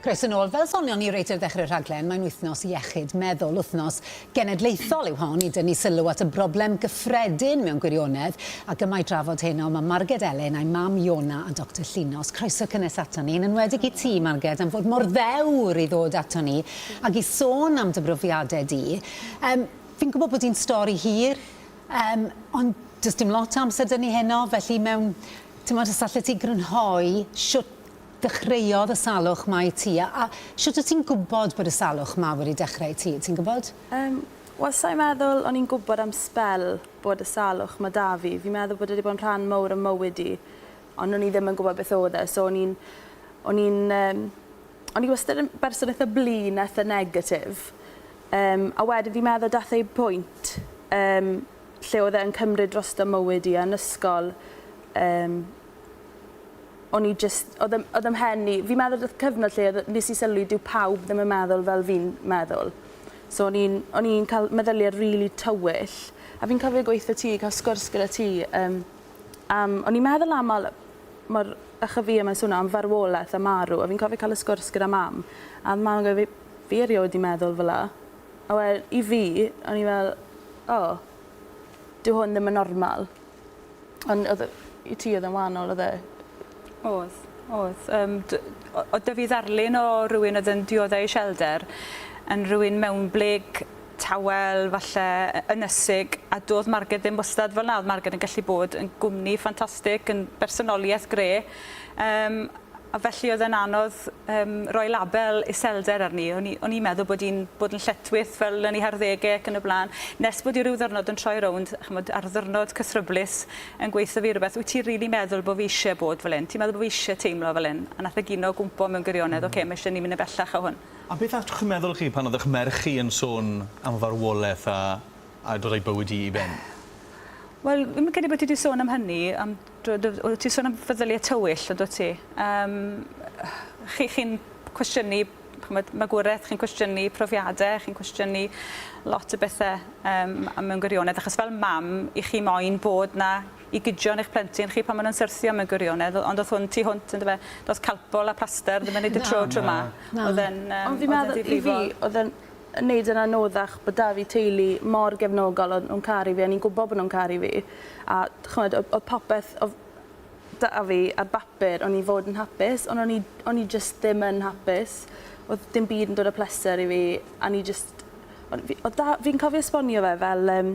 Croeso yn ôl. Fel sonion ni reit ar ddechrau'r rhaglen, mae'n Wythnos Iechyd Meddwl. Wythnos genedlaethol yw hon i dynnu sylw at y broblem gyffredin mewn gwirionedd, ac yma i drafod heno mae Marged Elin a'i mam Iona a Doctor Llinos. Croeso cynnes aton ni, yn enwedig i ti, Marged, am fod mor ddewr i ddod aton ni ac i sôn am dy brofiadau di. Um, fi'n gwybod bod hi'n stori hir, um, ond does dim lot o amser dynnu heno, felly mewn, ti'n modd, os allet ti grynhoi siwt dechreuodd y salwch 'ma i ti? A shwt wyt ti'n gwybod bod y salwch 'ma wedi dechrau i ti, ti'n gwybod? Yym, wel sa i'n meddwl o'n i'n gwybod am sbel bod y salwch 'ma 'da fi. Fi'n meddwl bod e 'di bod yn rhan mowr o mywyd i, ond o'n i ddim yn gwybod beth o'dd e, so o'n i'n o'n i'n yym o'n i wastad yn berson itha blin a itha negatif. Yym, a wedyn fi'n meddwl dath e i pwynt yym lle o'dd e yn cymryd drosto mywyd i a'n ysgol yym o'n i jyst... Oedd ym- oedd ym mhen i... Fi'n meddwl do'dd cyfnod lle oedd... Nes i sylwi dyw pawb ddim yn meddwl fel fi'n meddwl. So o'n i'n o'n i'n ca'l meddylie rili tywyll. A fi'n cofio gweutho ti ca'l sgwrs gyda ti yym am... O'n i'n meddwl am ol- mor ychyfie ma'n swno am farwoleth a marw a fi'n cofio ca'l y sgwrs gyda mam a o'dd mam yn gweud fi fi erioed 'di meddwl fel 'a. A we- i fi o'n i fel o dyw hwn ddim yn normal. Ond odd yy i ti odd e'n wahanol odd e? Odd odd yym d- o- o' 'dy fi ddarlun o rywun odd yn diodde' iselder yn rywun mewnblyg tawel falle yy ynysig a do'dd Marged ddim wastad fel 'na odd Marged yn gallu bod yn gwmni ffantastig yn bersonolieth gre' yym A felly oedd e'n anodd um, roi label iselder arni. O'n i'n i meddwl bod i'n bod yn lletwyth fel yn ei harddege ac yn y blaen. Nes bod i ryw ddyrnod yn troi rownd, chymod, ar ddyrnod cythryblus yn gweithio fi rhywbeth, wyt ti'n rili really meddwl bod fi eisiau bod fel un? Ti'n meddwl bod fi eisiau teimlo fel un? A nath y e gino gwmpo mewn gwirionedd, mm. oce, okay, mae eisiau ni mynd yn bellach o hwn. A beth all chi'n meddwl chi pan oedd eich merch chi yn sôn am farwolaeth a, a dod o'i bywyd i i ben? Wel, fi'n credu bod ti wedi sôn am hynny, am Do, do, oeddet ti'n sôn am feddyliau tywyll, yn dwyt ti? Yym, chi, chi'n cwestiynu ch'mod, magwraeth, chi'n cwestiynu profiadau, chi'n cwestiynu lot o bethau um, a mewn gwirionedd, achos fel mam, i chi moyn bod na i gydion eich plentyn chi pan maen nhw'n syrthio mewn gwirionedd, ond oedd hwn tu hwnt, ynddo fe, does calpol a plaster ddim yn neud y tro tro ma. Oedd e'n um, oedd e'n ddifrifol. Oedd e'n wneud yn anoddach bod 'da fi teulu mor gefnogol o'n nhw'n caru fi o'n i'n gwybod bod nhw'n caru fi a ch'mod o'dd o'dd popeth o'dd 'da fi ar bapur o'n i fod yn hapus on' o'n i o'n i jyst ddim yn hapus o'dd dim byd yn dod â pleser i fi a o'n i jyst o'n fi o'dd 'da fi'n cofio esbonio fe fel yym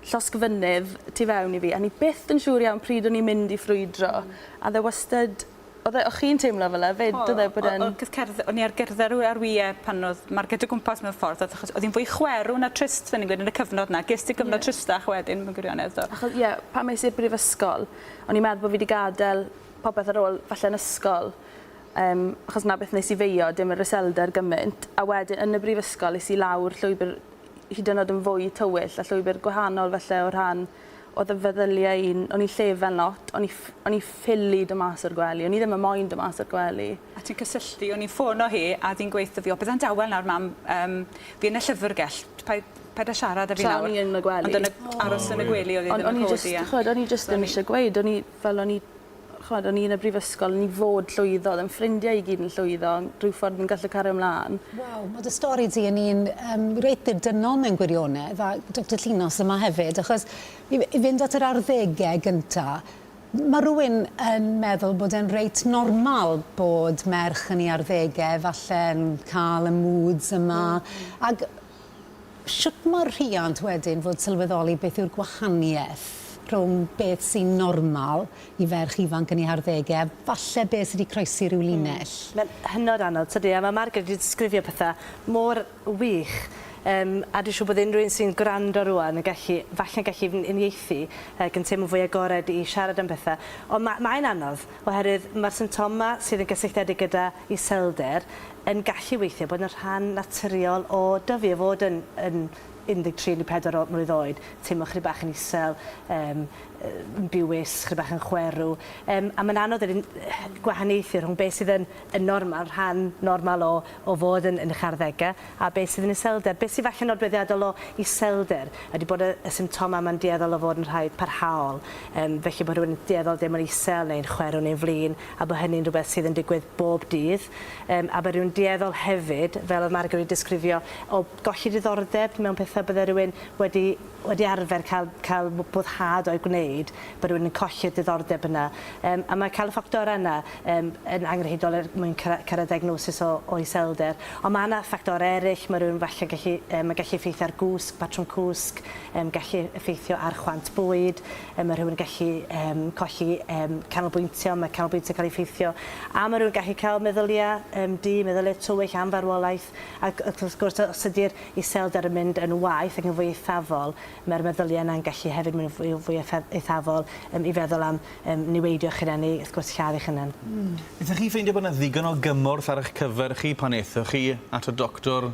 llosg fynydd tu fewn i fi a o'n i byth yn siŵr iawn pryd o'n i'n mynd i ffrwydro a o'dd e wastad Oedd e, o' chi'n teimlo fel 'na 'fyd? Doedd e bod e'n... O- o- cos cerdd- o'n i ar gerdded rw- ar wie pan odd Marged o gwmpas mewn ffordd odd achos odd 'i'n fwy chwerw na trist fel ni'n gweud yn y cyfnod 'na. Ges ti cyfnod... Ie. ...tristach wedyn mewn gwirionedd do? Acho- ie pan es i'r brifysgol o'n i'n meddwl bo' fi 'di gadel popeth ar ôl falle'n ysgol yym achos 'na beth nes i feio dim yr iselder gymint a wedyn yn y brifysgol es i lawr llwybyr hyd yn o'd yn fwy tywyll a llwybyr gwahanol falle o rhan Oedd y feddyliau un, o'n i'n llefen lot, o'n i ff- o'n i ffili do mas o'r gwely, o'n i ddim yn moyn do mas o'r gwely. A ti'n cysylltu, o'n i'n ffono hi a oedd hi'n gweutho fi, o bydde'n dawel nawr mam, yym, fi yn y llyfrgell, paid, paid a siarad 'da fi nawr. Tra o'n i yn y gwely. Ond yn y, aros yn y gwely oedd hi ddim yn codi a... Ond o'n i jyst, ch'mod, o'n i jyst ddim isie gweud, o'n i, fel o'n i ch'mod o'n i yn y brifysgol o'n i fod llwyddo o'dd 'yn ffrindiau i gyd yn llwyddo rhyw ffordd ni'n gallu cario mlan. Waw ma' dy stori di yn un yym reit ddibynnol mewn gwirionedd a Doctor Llinos yma hefyd achos i f- i fynd at yr arddege gynta m- ma' rywun yn meddwl bod e'n reit normal bod merch yn 'i arddege falle'n ca'l y moods yma ag Sut mae'r rhiant wedyn fod sylweddoli beth yw'r gwahaniaeth rhwng beth sy'n normal i ferch ifanc yn ei harddegau a falle beth sy' 'di croesi rhyw linell? Mae'n hynod anodd, tydi? A mae Margaret wedi disgrifio pethau mor wych, yym, a dwi'n siŵr bod unrhyw un sy'n gwrando rŵan yn gallu, falle'n gallu uniaethu, ac yn teimlo'n fwy agored i siarad am bethau. Ond ma- mae'n anodd, oherwydd mae'r symptomau sydd yn gysylltiedig gyda iselder yn gallu weithio, bod yn rhan naturiol o dyfu, o fod yn yn 13, 14 o mlwydd oed, teimlo chydig bach yn isel, yym yn biwis, chydig bach yn chwerw, yym a mae'n anodd wedyn gwahaniaethu rhwng beth sydd yn yn normal, rhan normal o o fod yn yn eich arddegau, a beth sydd yn iselder. Beth sydd falle yn nodweddiadol o iselder ydy bod y y symptomau yma'n dueddol o fod yn rhai parhaol, yym felly bod rhywun yn dueddol o deimlo'n isel neu'n chwerw neu'n flin, a bod hynny'n rhywbeth sydd yn digwydd bob dydd, yym, a bod rhywun dueddol hefyd, fel oedd Margo wedi disgrifio, o golli diddordeb mewn pethau, bydde rhywun wedi, wedi arfer cael, cael boddhad o'i gwneud, bod rhywun yn colli'r diddordeb yna. Um, a mae cael y ffactorau yna um, yn angenrheidiol er mwyn cyrraedd diagnosis o, o iselder. Ond mae yna ffactorau eraill, mae rhywun falle gallu, um, mae gallu effeithio ar gwsg, patrwm cwsg, um, gallu effeithio ar chwant bwyd, yy ma' rhywun yn gallu yym colli yym canolbwyntio, ma' canolbwyntio'n cael ei effeithio, a ma' rhywun gallu cael meddylia yym du, meddylia tywyll am farwolaeth, ac ac wrth gwrs os ydy'r iselder yn mynd yn waeth ac yn fwy eithafol, mae'r meddylia yna'n gallu hefyd mynd yn fwy fwy effe- eithafol yym i feddwl am yym niweidio eich hunan neu wrth gwrs lladd eich hunan. Hmm. Ydych chi'n ffeindio bod 'na ddigon o gymorth ar eich cyfer chi pan aethoch chi at y doctor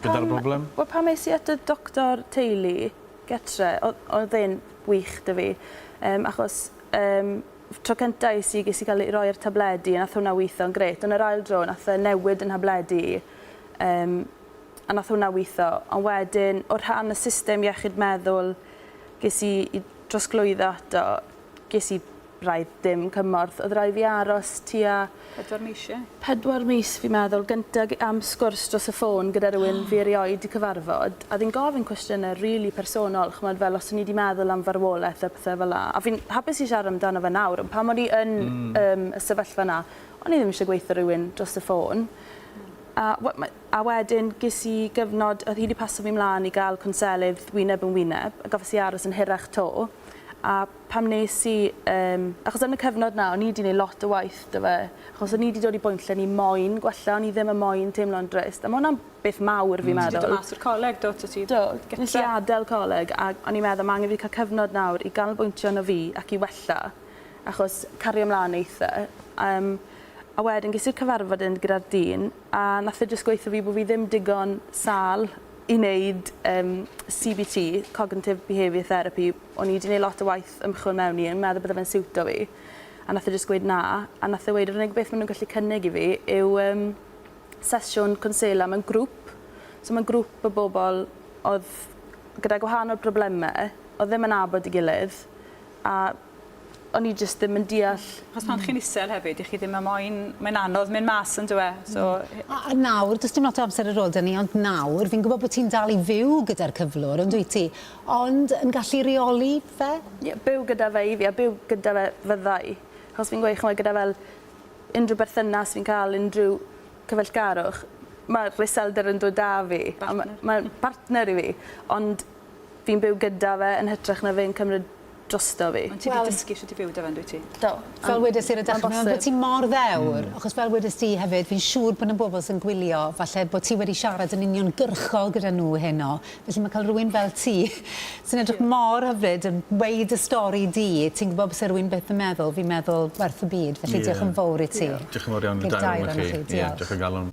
gyda'r broblem? Wel pan es i at y doctor teulu gytre oedd e'n wych 'da fi yym achos yym tro cynta' es i ges i cael roi yr tabledi a nath hwnna witho'n grêt ond yr ail dro nath e newid 'yn nhabledi i yym a nath hwnna witho ond wedyn o rhan y system iechyd meddwl ges i i drosglwyddo ato ges i Braidd dim cymorth oedd rai fi aros tua... Pedwar mis ie? Pedwar mis fi'n meddwl, gynta am sgwrs dros y ffôn gyda rhywun fi erioed 'di cyfarfod, a fi'n gofyn cwestiyne rili personol, ch'mod fel os o'n i 'di meddwl am farwolaeth a pethe fela, a fi'n hapus i siarad amdano fe nawr, ond pan o'n i yn yym y sefyllfa 'na, o'n i ddim isie gweutho rhywun dros y ffôn. A we- ma- a wedyn ges i gyfnod o'dd hi 'di pasio fi mlan i ga'l cwnselydd wyneb yn wyneb, a gafes i aros yn hirach 'to, a pan wnes i, yym, achos yn y cyfnod 'na o'n i 'di neud lot o waith 'da fe, achos o'n i 'di dod i bwynt lle o'n i moyn gwella, o'n i ddim yn moyn teimlo'n drist, a ma' wnna'n beth mawr fi'n meddwl. Ti 'di dod mas o'r coleg do, so ti Do, nes i adel coleg a o'n i'n meddwl ma' angen fi ca'l cyfnod nawr i ganolbwyntio arno fi ac i wella, achos cario mlan eitha, yym, a wedyn ges i'r cyfarfod 'yn gyda'r dyn a nath e jyst gweutho fi bo' fi ddim digon sâl i wneud yym CBT, Cognitive Behaviour Therapy, o'n i 'di neud lot o waith ymchwil mewn i yn meddwl bydde fe'n siwto fi a nath e jyst gweud na a nath e weud yr unig beth ma' nw'n gallu cynnig i fi yw yym sesiwn cwnsela mewn grŵp so mewn grŵp o bobol odd gyda gwahanol probleme odd ddim yn nabod 'i gilydd a o'n i jyst ddim yn deall. Achos pan chi'n isel hefyd, dych chi ddim yn moyn... Mae'n anodd mynd mas yn dyw e, so... A nawr, does dim lot o amser ar ôl 'da ni, ond nawr, fi'n gwybod bod ti'n dal i fyw gyda'r cyflwr, yn dwyt ti, ond yn gallu rheoli fe? Ie, byw gyda fe i fi, a byw gyda fe fydda i. Achos fi'n gweud, chimod, gyda fel unrhyw berthynas fi'n cael, unrhyw cyfeillgarwch, mae'r iselder yn dod 'da fi, a ma' mae'n partner i fi, ond fi'n byw gyda fe yn hytrach na fe'n cymryd drosto fi. Ond ti 'di dysgu shwt i byw 'da fe yndwyt ti? Do. Fel wedes i ar y dechre ma'n bosib. ti mor ddewr Mm. achos fel wedes di hefyd fi'n siŵr bod 'na bobl sy'n gwylio falle bod ti wedi siarad yn uniongyrchol gyda nhw heno felly ma' cael rywun fel ti sy'n edrych mor hyfryd yn weud dy stori di ti'n gwbod byse rywun byth yn meddwl fi'n meddwl werth y byd felly Ie. diolch yn fowr i ti. Diolch. Diolch yn fawr iawn i'r dair ohonoch chi. Ie diolch o galon.